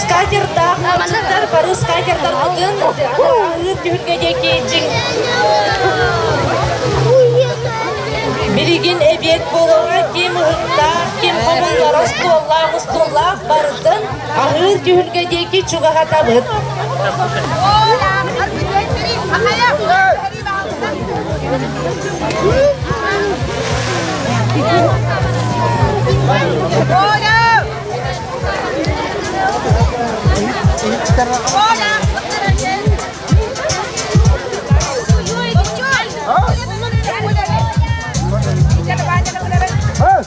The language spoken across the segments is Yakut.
Скакердаах мальчиктар бары скакердарбытын ыырдүбүтгэ диэки дьиҥ Билигин эбиэт буолара ким уһуннаах, ким хомуллара остуоллаах-устууллаах барытын Халыыс түһүлгэ диэки чугаһатабыт. Hey!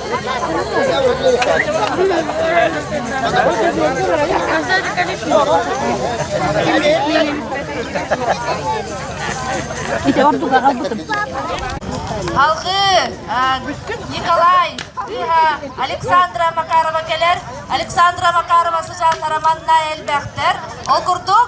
Халғы Николай Александра Макарова кэлэр. Александра Макарова сыдьаан тараманна элбэхтэр. Ол курдук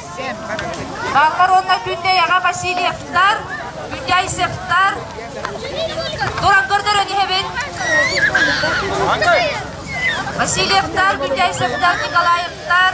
Халлар уонна Күндэйэҕэ Васильевтар, Күндэйсевтар. Туран көрдөрөн иһэбин. Васильевтар, Күндэйсевтар, Николаевтар.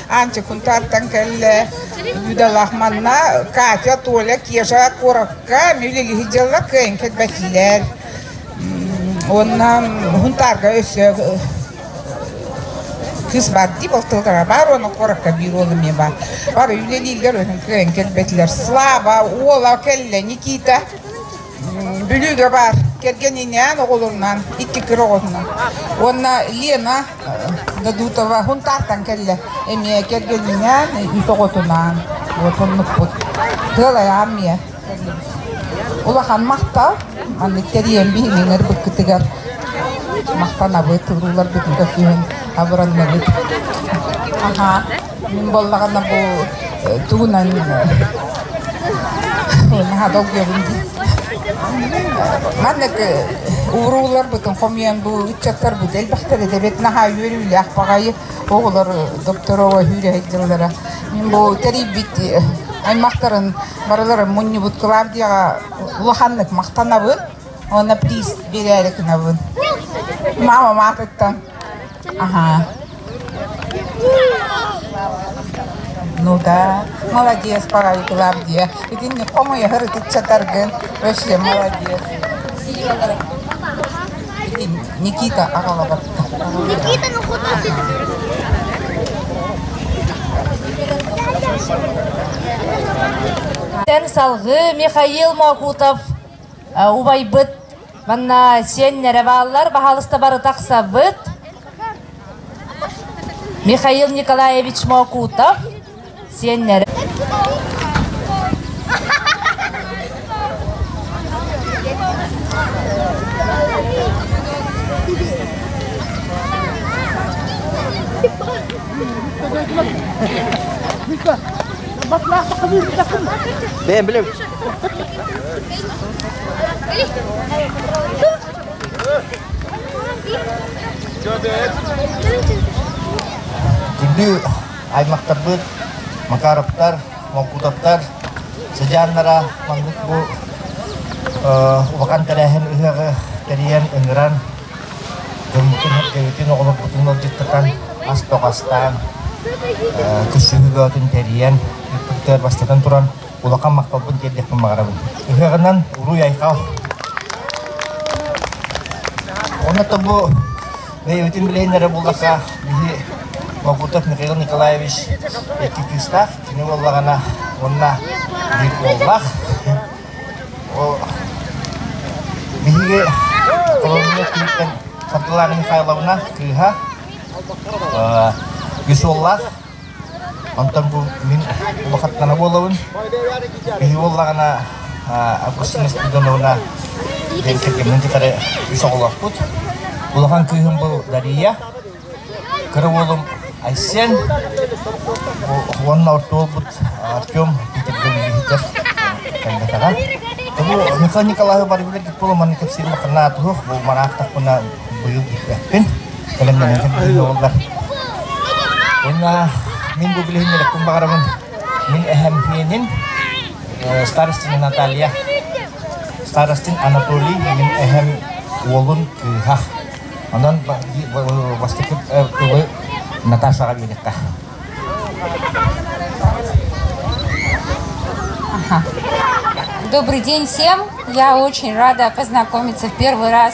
Анти Кунтартан кэллэ Бүдалах манна Катя, Толя, Кежа куоракка мүлилиһи дьылла кыайын кэтбэтилэр. Онна Хунтарга өссө кыс бар дии болтылгара бар оны куоракка биир уолу мен бар бар үлелиилер өнүн кыайын кэтбэтилэр Слава, Ола, Келле, Никита Бүлүүгэ баар кэргэниниэн оҕолунан икки кыр оҕоннун. Уонна Лена Дадутова хунтаартан кэллэ эмиэ кэргэниниэн үс оҕотунаан вот оннукпут. Тыал айаан миэ улахан махтал маннык тэрийэн биһиҥилэр быккытыгар махтанабыт уруулар бүтүн көрсүһүн абыранныбыт. Аха. буоллаҕына бу тугунан наһаа долгуйабын дии маннык урууларбытын хомуйан бу ыччаттарбыт элбэхтэрэ тэбит наһаа үөрүүлээх баҕайы оҕолор допторово сүүрэһэйдэллэрэ мин бу тэрийбит аймактарын барыларын мунньубут клавдияға улаханнык мақтанабын оны приз берээри гынабын мама маатыттан Ну да, молодец, пока диэ. Итинник хомуйаһыр ытыччатаргын вообще молодец. Итин Никита аҕалабатта. Никита ну куда ты? Салгы Михаил Мокутов убайбыт Манна сиэннэрэ бааллар, баһаалыста бары тахсабыт. Михаил Николаевич Мокутов, сиэннэрэ Бэйэн билем. Күндү аймахтарбыт Макаровтар, Молкутовтар сыдьааннара маннык бу улахан тэрээһин ыһыаҕы тэрийэн, ыҥыран дьоммутун, эргэбитин, оҕолорбутун ыалдьыттатан ас-тоҕастаан, көрсүһүүлөотүн тэрийэн, ыппыттар бастатан туран улахан махталбын тиэрдиэхпин баҕарабын. Ыһыаҕынан уруй-айхал! Онно бу бэйэбитин билeenнэрэ буллака биһи Могутов Михаил Николаевич икки кыыстаах, кини уоллаҕана уонна биир уоллаах. Биһиги холобурга киһиттэн Фатыла Михайловна кыыһа, үс уоллаах, Онтон бу мин улахаттана буолабын. Киһи буоллаҕына Августина Спиридоновна диэн кэргэммин кытары үс оҕолоохпут. Улахан кыыһым был Дария, кыра уолум Айсен, уонна орто уолбут Артем Питерден үлэһитэ кэлбэтэҕэ. Тобу Михаил Николаевы бары билэргит буолан манна кэпсиир улаханнаах туһух, бу мараахтахпына быйыл иһиэхпин. Кэлэн мэлэҥэ билиннэ буоллар. Уонна мин бу билиһиннэрэкпин баҕарабын мин эһэмһиэнин э, старостин Наталья, старостин Анатолий, мин эһэм уолун кыыһа. Онон бастакы э, тылы Наташаҕа биэриэххэ. Добрый день всем. Я очень рада познакомиться в первый раз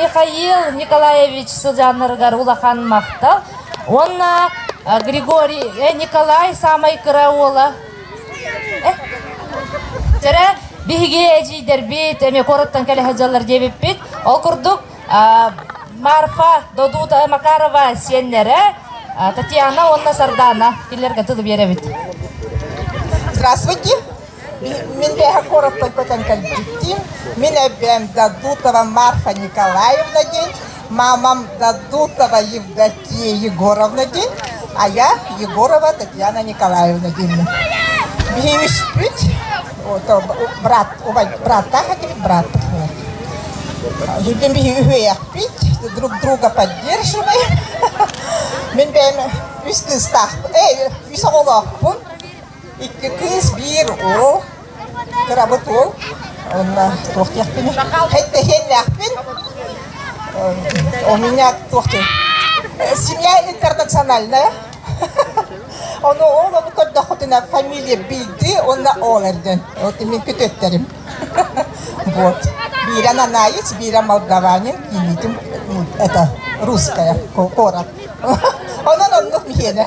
Михаил Николаевич сылдьаннарыгар улахан махтал Уонна Григорий Николай саамай кыра уола Чэрэ биһиги эдьиийдэрбит эмиэ куораттан кэлэ сылдьаллар диэбиппит. Ол курдук Марфа, Додута Макарова сиэннэрэ Татьяна уонна Сардаана кинилэргэ тылы биэрэбит. Здравствуйте. Мин бэйэһэ куораттан көтөн кэлбиттиин, мин эбээм Дадутова Марфа Николаевна диэн, маамам Дадутова Евдокия Егоровна диэн, айаа Егорова Татьяна Николаевна диэммин. Биһиги үспүт брат, браттаах этибит, братпыт буолар. Ирден биһиги үһүйэхпит, друг друга поддерживаем. Мин бэйэм үс кыыстаахпын, эй, үс оҕолоохпун. Икки кыыс биир уол, кырабыт уол. Уонна туох диэхпиний? Эттэһиэннээхпин. У меня туох диэн? Семья интернациональная. Ону ол ону көрдөххүтүнэ фамилия билди уонна олерден. Вот мен көтөттөрүм. Вот. Бира нанаец, бира молдаванин, кинитим это русская курат. Онон оннук миһиэнэ.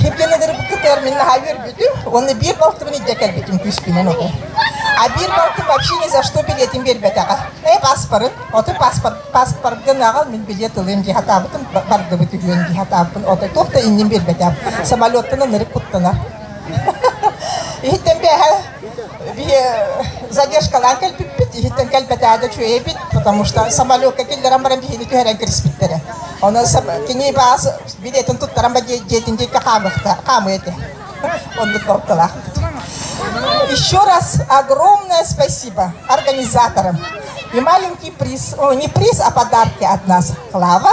Кэргэнэлэрбит кытары мин наһаа үөрбүтүм. Уонна биир балтыбын илдьэ кэлбитим күүспүнэн оту. А биир балтым вообще ни за что билетин бербэтэҕэ. Эй паспорын, оту паспорт паспортгын аҕал мин билет ылыым дии хатаабытым бардыбыт үһүөн дии хатаабын оту туох да иннин бербэтэм. Самолеттан ынырык куттанар. Иһиттэн бэһэ задержкалаан кэлбиппит иһиттэн кэлбэтээдэ үчүгэйбит потому что самолетка киллэрэн баран биһини түһэрэн кириспиттэрэ ону кини баас билетин туттаран ба дьиэтин диэккэ хаамыахта хаамыы этэ оннук кылаах еще раз огромное спасибо организаторам и маленький приз не приз а подарки от нас клава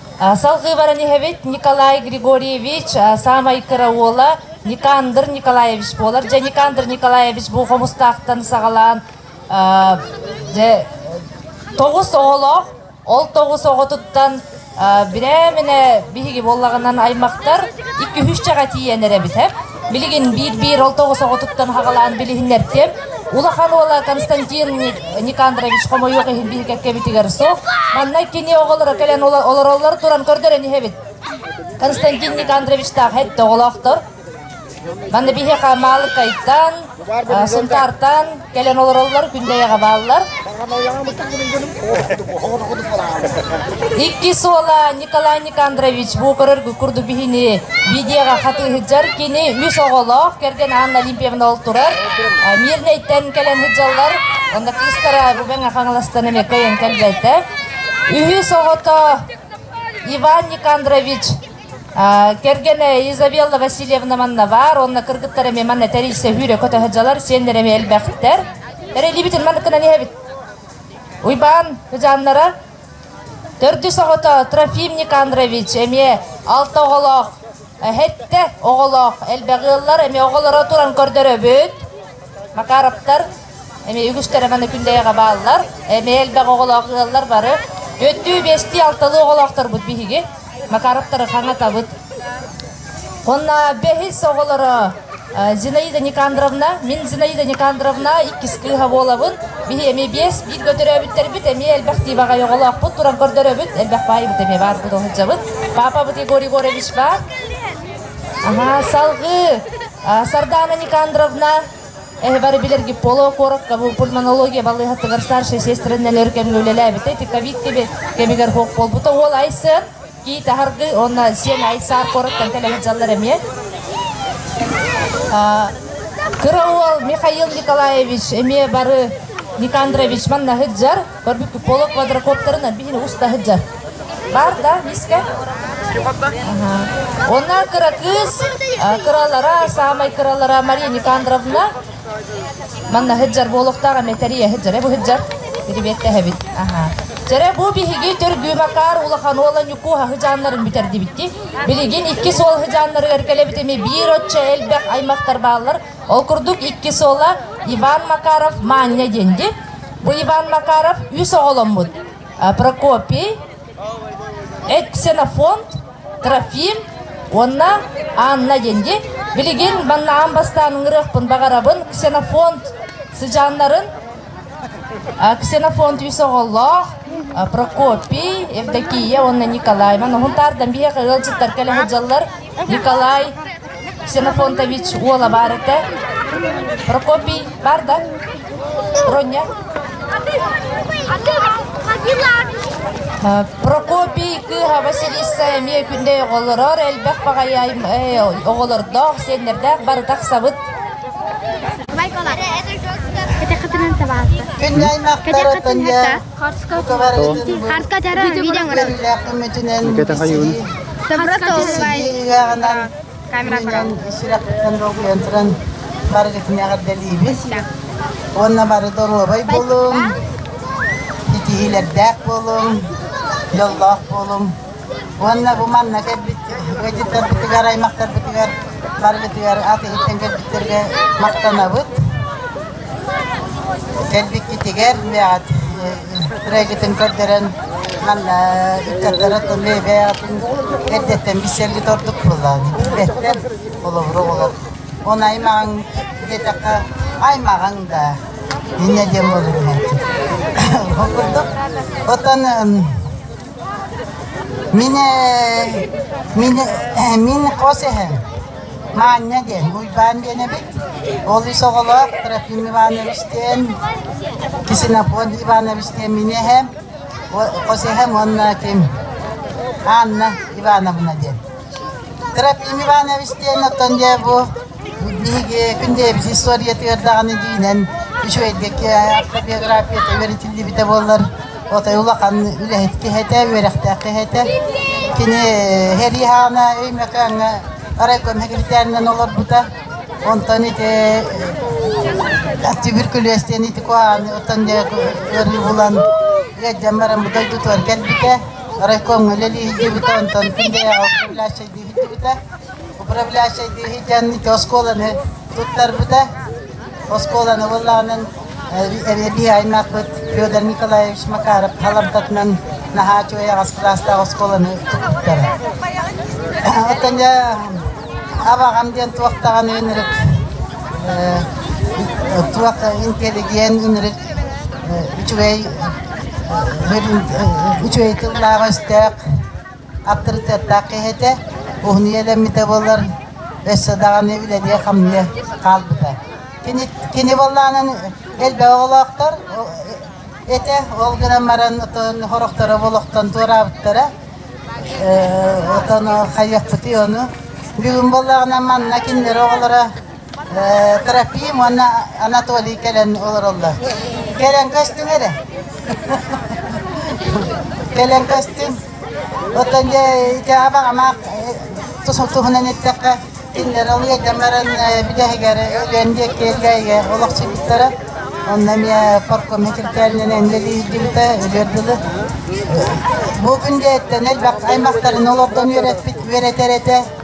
Салгыы баран иһэбит Николай Григорьевич саамай кыра уола Никандр Николаевич буолар. Дьэ Никандр Николаевич бу хомустаахтан саҕалаан дьэ тоҕус оҕолоох. Ол тоҕус оҕотуттан бирэминэ биһиги буоллаҕынан аймахтар икки-үһүс дьэҕэ тиийэн эрэ бүтэбит. Билигин биир-биир ол тоҕус оҕотуттан хаҕалаан билиһиннэртиэм. Улахан уола Константин Никандрович хомойуох иһин биһикэккэбитигэр сол. Манна кини оҕолоро кэлэн олороллор туран көрдөрөн иһэбит. Константин Никандровичтаах этте оҕолоохтор. Манна биһиэхэ Маалыкайтан, Сунтаартан кэлэн олороллор күндэйэҕэ бааллар. Икки суола Николай Никандрович бу көрөргү курдук биһини бидиэҕэ хатыыһыддьар кини үс оҕолоох кэргэн Анна Олимпиевна ол турар Мирнэйтэн кэлэн сыддьаллар онно кыыстара Бубеҥа Хаҥаластан эмиэ кыайан кэлбэтэ үһүс оҕото Иван Никандрович Кэргэнэ Изабелла Васильевна манна баар, уонна кыргыттара эмиэ манна тэрийсэһүүрэ көтөһө дьалар, сиэннэр эмиэ элбэхтэр. Эрэлиибитин маныкынан иһэбит. Уйбаан Хыдьааннара, төрдүс оҕото Трофимник Андрович эмиэ алта оҕолоох, сэттэ оҕолоох элбэх ыаллар, эмиэ оҕолоро туран көрдөрөбүт. Макаровтар Эми үгүстэр эмэ күндэйэҕэ бааллар. Эми элбэх оҕолоох ыаллар бары. Өттүү биэстии алталы оҕолоохторбут биһиги. Макаровтары хаҥатабыт. Онно бэһис оҕолоро Зинаида Никандровна. Мин Зинаида Никандровна иккис кыыһа буолабын. Биһи эми биэс, биир көтөрөөбүттэрбит, эми элбэх дии баҕай оҕолоохпут, туран көрдөрөбүт, элбэх баайбыт эми баарбыт ол сылдьабыт. Папабыт Егор Егорович баар. Аха, салгыы Сардаана Никандровна, Эһэ бары билэрги Поло куоракка бу пульмонология балыыһатыгар старшая сестра нэлэр кэмгэ үлэлээбитэ. Ити ковид кеби кэмигэр хоқ болбута. Ол айсын ки тахаргы онна сен айсаар куораттан телегет жаллар эмиэ. Кыра уол Михаил Николаевич эмиэ бары Никандрович маннаһыт жар Көрбүппүт Поло квадрокоптарын биһини уста сылдьар. Бар да, миска? Онна кыракыыс кыралара, саамай кыралара Мария Никандровна манна сыдьар буолуохтаах эме тэрийэ сыдьар, бу сыдьар перебиэттэһэбит. Жere bu биһиги түргүүмакаар улахан уола ньуку хаһыжааннарын бүтэрдибитти. Билигин икки суол хаһыжааннарыгар кэлебитими биир отче элбэх аймақтар бааллар. Ол курдук иккис уола Иван Макаров Маанньа диэнди. Бу Иван Макаров үс оҕоломмут. Прокопий, Ксенофонт, Трофим уонна Анна диэнди. Билигин маннаан бастаан ыҥырыахпын баҕарабын Ксенофонт сыдьааннарын. Ксенофонт үс оҕолоох, Прокопий, Евдокия уонна Николай. Маны хунтаардан биһиэхэ ыалдьыттар кэлэ сылдьаллар. Николай Ксенофонтович уола баар этэ, Прокопий баар да, Роня, Прокопий кыыһа Василиса эмиэ күнde оҕолорор элбэх баҕайы оҕолордоох, сиэннэрдээх бары тахсабыт. Кэнни аймақтарытын Харкатара видео көрөбүт. Кэтэ хайыын. Просто олай. Камера Сүрэхтэн долгуйан туран барыгытынааҕар дэлиибис. Уонна бары доруобай буолуҥ. Итиһиилэрдээх буолуҥ. Дьоллоох буолуҥ. Уонна бу манна кэлбит ыалдьыттарбытыгар, аймахтарбытыгар барыбытыгар ат иһиттэн кэлбиттэргэ махтанабыт. Кэлбиккитигэр трегитин көрдөрөн манна ыччаттары Тулебе атын эрдэттэн билсэргит ордук буоллаҕа. Билбэттэр холобура болор. Оны аймаҕың диэтэххэ аймаҕың да иннэ диэн болур. Ол курдук. Оттон Мин ээ мин ээ мин хос эһэм Маанньа диэн Уйбаан диэн эбит. Ол ис оҕолоох Трофим Иванович диэн, Ксенофонт Иванович диэн мин эһэм, хос эһэм уонна ким Анна Ивановна диэн. Трофим Иванович диэн оттон дьэ бу Биһиги Күндэ историятыгар даҕаны дьиинэн үчүгэйдик автобиографията үөрэтиллибитэ буоллар, отой улахан үлэһит киһи этэ, үөрэхтээх киһи этэ. Кини Хэриһаана Өймөкөөҥҥө райком секретарынан олорбута. Онтон ити Аттүбүр көлүөс диэн ити куһаҕаны оттон ыарыы булан ыалдьан баран бу дойдутугар кэлбитэ. Райкомҥа үлэлии сылдьыбыта, онтон Күндэйэҕэ управляющай дии сылдьыбыта. управляющайдыы диэн ити оскуоланы туттарбыта. Оскуоланы буллаҕынан биһайнаахпыт Федор Николаевич Макаров Халамтатынан наһаа үчүгэй аҕас кылаастаах оскуоланы туттара. Оттон абаҕам диэн туохтаҕын үнүрүк туох интеллигиэн үнүрүк үчүгэй үчүгэй тыллаах өстөөх Аптарытыаттаах киһи этэ, уһунуйа элэммитэ буоллар, өссө даҕаны үлэлиэ-хамныйа хаалбыта. Кини, кини буоллаҕынан элбэх оҕолоохтор этэ, ол гынан баран отон сорохторо олохтон туораабыттара. Отону хайыахпытый ону? Бүгүн буоллаҕына манна кинилэри оҕолоро Трофим уонна Анатолий кэлэн олороллор. Кэлэн көстүҥ эрэ. кэлэн көстүҥ. Оттон дьэ ити абак амак туһунан эттэххэ кинилэр олуйдамларын бүтэһигэр өлүөн диэккиэлгээйгэ олохсуйбуттара. Онно эмиэ парком секретаринэн үлэлиирдибитэ өлүөр дылы. Бу күн дьэ эттэн элбэх аймақтарын олордон үөрэппит үөрэтэр этэ.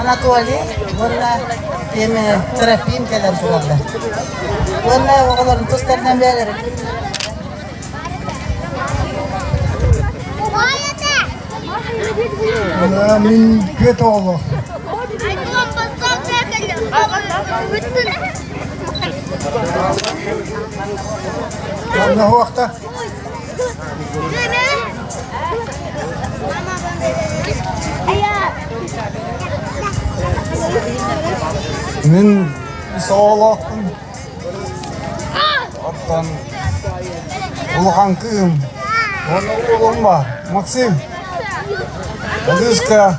Анатолий уонна эми терапиин кэлэн турарда. Уонна оҕолорун тустарынан бээлэрин Ана мин көт оҕоло. Анна хуахта. Мин соолохпун оттон улахан кыым уонна уолум бар Максим Алюшка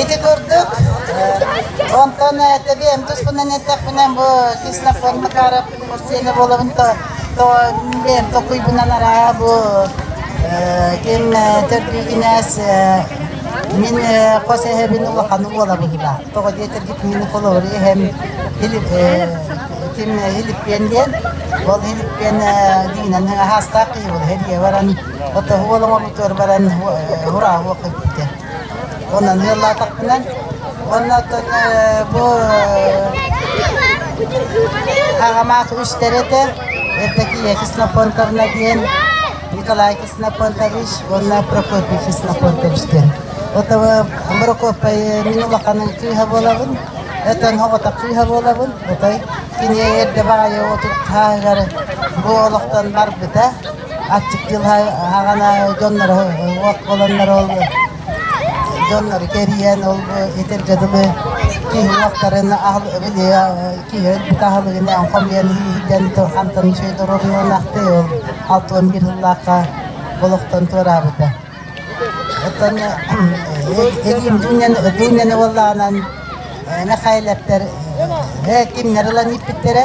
Ити курдук, онтон тэбиэм туспунан эттэхпинэ бу кислофон Макаров сиэнэ буолабын то то билем токуйбунан араа бу ким төрдүүгүнэс мин хос эһэбин улаханы буолабыла тоҕо диэтергит мин холору эһэм ким илиппиэн диэн ол илиппиэн дигинэн аһаастаах киһи ол эһэ диэ баран Отоһуол оҥорбутугар баран урааһуох эппитэ. Онон ыаллаатахпынан уонна бу Хагамаах үстэрэтэ Евдокия Ксенофонтовна диэн Николай Ксенофонтович уонна Прокопий Ксенофонтович диэн. Ото Прокопай мин улаханын кыыһа буолабын. Өтөн хоҕотох кыыһа буолабын. Отой кини эрдэ баҕайы отут һааһыгар бу олохтон барбыта. аччыктыыл аҕана дьоннору уот буоланнар ол дьоннору кэрийэн ол итир дьадылы киһи уоттарын аһыл киһи бука аһылыгына хомуйан иһитэн хантан үчүгэй доруобуйан ахтыы ол алта уон биир сыллаахха олохтон туораабыта оттон эдиимдьиннэн уоллаанан мэхайэлэптэр кимнэр ылан ииппиттэрэ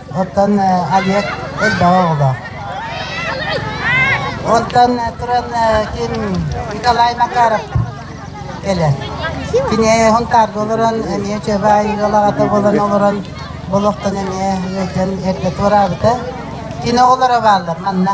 Оттон Олег элбэҕи оҕолоох. Оттон туран кин Николай Макаров кэлэр. Кини хонтаарга олорон эмиэ чөбаай ыалаҕата буолан олорон олохтон эмиэ ыайтан эрдэ туораабыта. Кини оҕолоро бааллар манна.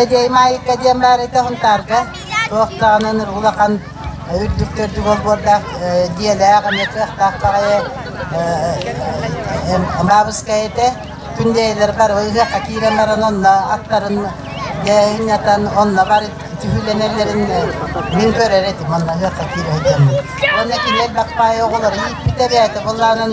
Эдьиэй Маайыкка диэн баар этэ Хунтаарга туохтаҕынан улахан үрдүктэрдик олбуордаах дьиэлээх эмиэ кыахтаах аҕайы Маабыскай этэ Күндэйэлэр бар ыһыахха киирэн баран онно аттарын дьээнньэтэн онно бар түһүүлэнэллэрин мин көрөр этим онно ыһыахха киирэ сылдьаммын уонна кини элбэх баайы оҕолоро ииппитэ бэйэтэ буоллаанан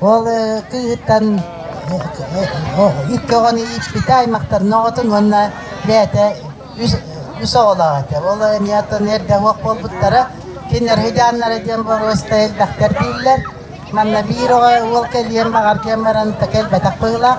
Ол кыыһыттан икки оҕону ииппитэ аймахтарын оҕотун уонна бэйэтэ үс оҕолоох этэ. Ол эмиэтин эрдэ уох буолбуттара. Кинилэр хыдьааннара диэн боруоста элбэхтэр дииллэр. Манна биир оҕо уол кэлиэн баҕар диэн баран кэлбэтэх быһыылаах.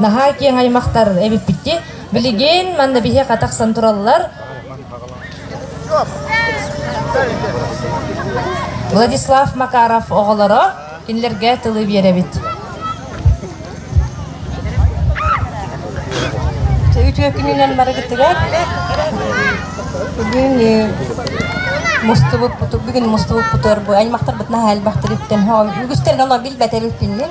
наһаа киэҥ аймахтар эбиппит дии билигин манна биһиэхэ тахсан тураллар владислав макаров оҕолоро кинилэргэ тылы биэрэбит үтүө күнүнэн барыгытыгар бүгүн мустубут бүгүн мустубут бутуорбу аймахтарбыт наһаа элбэхтэр үттэн үгүстэрин оно билбэтэр үппиннин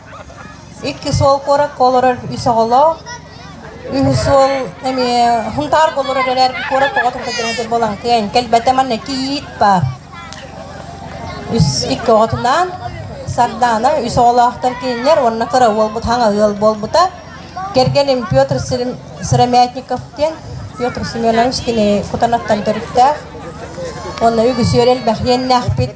Икки суол куоракка олорор үс оҕолоох, үһүс суол эмиэ Хунтаарга олорор эрээри куорат оҕотун кэргэнэ буолан кэлэн кэлбэтэ манна кийиит баар. Үс икки оҕотунаан Сардаана үс оҕолоохтор кинилэр уонна кыра уолбут хаҥа ыал буолбута. Кэргэним Петр Сыромятников диэн Петр Семенович кини кутанаттан төрүттээх уонна үгүс үөр элбэх иэннээхпит.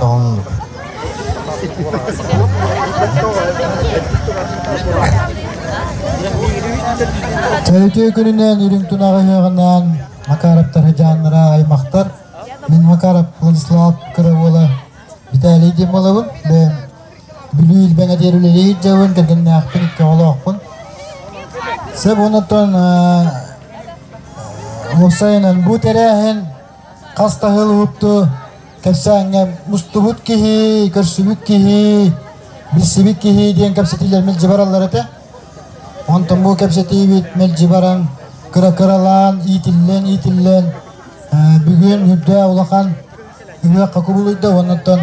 Тоҥнук Төлүтүө күнүнэн үрүҥ тунаҕы үһэҕинээн Макаровтар дьааннара аймахтар Мин Макаров Владислав Кыравола Виталий Демоловын бэйэм Бүлүү илбэҥэ диэр үлэлиир дьабын кэргэннээхпин икки оҕолоохпун Сэб уонна тон уопсайынан бу тэрээһин хас таһыылыһыпты кэпсээҥҥэ мустубут киһи, көрсүбүт киһи, билсибит киһи диэн кэпсэтиилэр мэлдьи бараллар этэ. Онтон бу кэпсэтиибит мэлдьи баран кыра-кыралаан, иитиллэн, иитиллэн бүгүн үрдэ улахан ыһыахха кубулуйда уоннаттан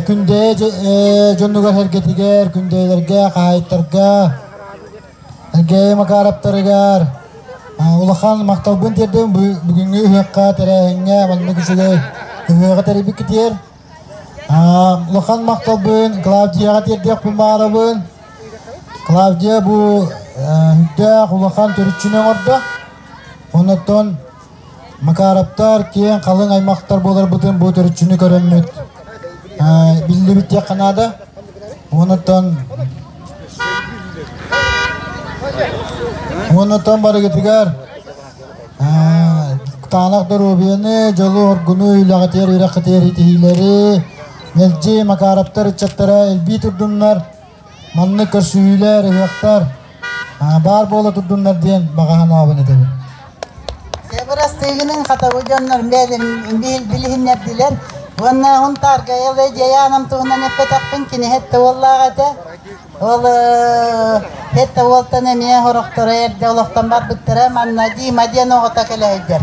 күндэйэ дьоннугар сэргэтигэр, күндэйэлэргэ, хаайыттарга Сергей Макаровтарыгар улахан махталбын тиэрдэм бүгүҥҥү үһүөххэ тэрээһиҥҥэ маннык үчүгэй ыһыаҕы тэрийбит китиэр улахан махталбын Клавдияҕа тиэрдиэхпин баҕарабын Клавдия бу үрдээх улахан төрүччүнү оҥордо оннуттан Макаровтар киэҥ халыҥ аймахтар буоларбытын бу төрүччүнү көрөммүт. Биллибит диэххэ наада. Уонуттан Уонуттан барыгытыгар Таанах доруобуйаны, дьолу, оргуну, үлэҕитигэр үрэххитигэр итиһиилэри, мэлдьи Макаровтар ыччаттара элбии турдуннар, Манна көрсүһүүлэр, ыһыахтар баар буола турдуннар диэн баҕаһынаабын этэбин. Бырастыгының хатабы дьоннор билиһиннэрдилэр уонна hun тааргайа ле дьайаанам туһунан эппэтэхпин кини хетте уоллаах этэ ол хетте уолтан эмиэ хорохторо эрде олохтон барбыттара манна дима диэн оҕото кэлэйдэр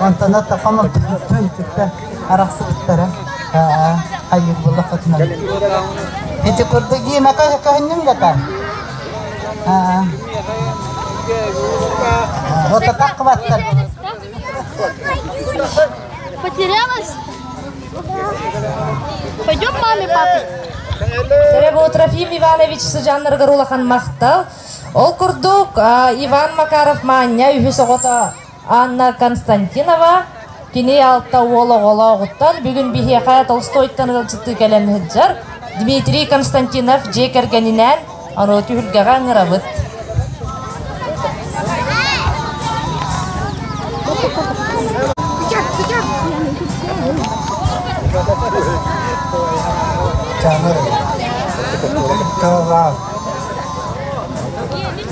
Онтона Токон отчуттун кытта арахсыбыттара хайыыр була хотунан. Ити курдук дима көһүннүм гата. Вот так хваттар. Потерялась? Пойдем маме, папе. Сереботрафим Иванович сыдьаннаргар улахан махтал. Ол курдук Иван Макаров Маанньа үһүс оҕото Анна Константинова кини алта уол оҕолооҕуттан бүгүн биһиэхэ Толстойтан ыалдьыттыы кэлэн сылдьар Дмитрий Константинов дьиэ кэргэнинээн норуот түһүлгэҕэ ыҥырабыт. Жаныр. Тыллаан.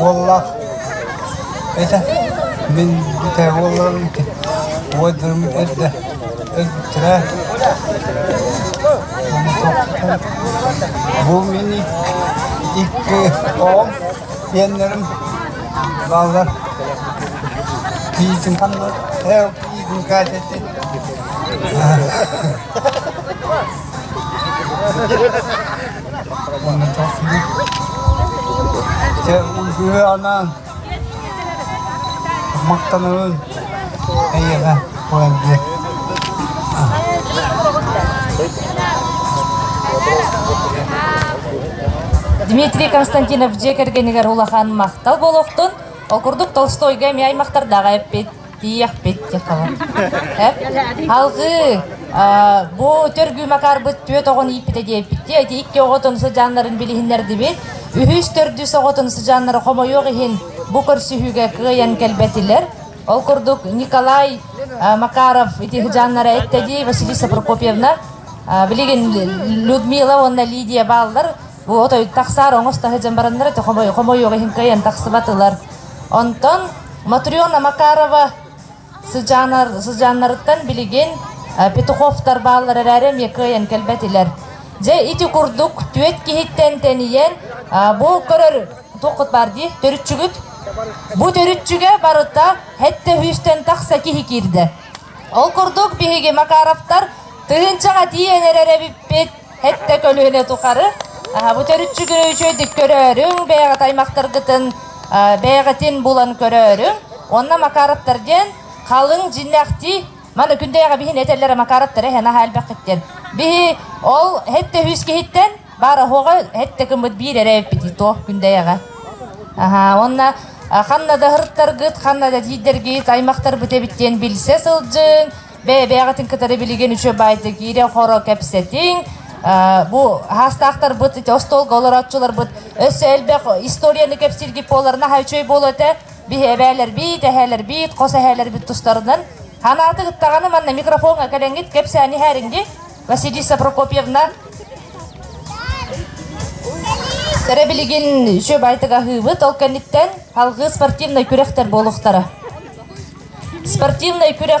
Уоллаах этэ мин бүтэй уолларым ити убайдарым эрдэ өлбүттэрэ уонна тоохтутан бу мин икки оҕом иэннэрим бааллар кийиитин ханнар ээ кийиитин Катятын Сыһыанан махтанабын эйиэхэ Валерия. Дмитрий Константинов дьиэ кэргэнигэр улахан махтал болохтун ол курдук Толстойга эмиэ аймахтардаах эппит. Тиийэхпит дьэ ханан Алгыы, бу төргүү Макаарбыт түөрт оҕону ииппитэ диэбиттии, ити икки оҕотун сыдьааннарын билиһиннэрдибит. Үһүс төрдүс оҕотун сыдьааннара хомойуох иһин бу көрсүһүүгэ кыайан кэлбэтилэр. Ол курдук Николай Макаров ити сыдьааннара эттэ дии, Василиса Прокопьевна, билигин Людмила уонна Лидия бааллар. От өй тахсаар оҥос таһыдьан бараннара те хомой хомойуох иһин кыайан тахсыбатылар. Онтон Матриона Макарова сыдьаанар сыдьааннарыттан билигин э, Петуховтар бааллар эрээри эмиэ кыайан кэлбэтилэр. Дьэ ити курдук түөт киһиттэн тэнийэн э, бу көрөр туоххут баар дии төрүтчүгүт бу төрүтчүгэ барыта хэттэ үһүстэн тахса киһи киирдэ. Ол курдук биһиги Макаровтар тыһынчаҕа тиийэн эрэр эбиппит Хэттэ көлүөнэ тухары бу төрүччүгү үчүгэйдик көрөөрүҥ, бэйэҕит аймахтаргытын бэйэҕитин булан көрөөрүҥ уонна Макаровтар диэн халыҥ дьиннэхтии маны күндэйэҕэ биһин этэллэрэ Макаровтары эһэ наһаа элбэххиттэн. Биһи ол хэттэ үһүс киһиттэн баар оһоҕо хэттэ гыммыт биир эрэ эбиппитий туох күндэйэҕэ. Аһаа уонна ханна да ыһыртаргыт, ханна да тиийдэргит аймахтарбыт эбит диэн билсэ сылдьыҥ бэйэ-бэйэҕитин кытары билигин үчү баайда киирэн хоро кэпсэтиҥ бу хаастаахтарбыт ити остуолга олорооччуларбыт өссө элбэх историяны кэпсииргит буолар наһаа үчүгэй буолуо этэ биһи эбээлэрбит эһээлэрбит хос эһээлэрбит тустарынан ханааты ыттаҕаны манна микрофоҥҥа кэлэҥҥит кэпсээни һээриҥги Василиса Прокопьевна Сэрэ билигин үчү байтыга аһыыбыт ол кэнниттэн алгыы спортивнай күрэхтэр буолуохтара Спортивнай күрэх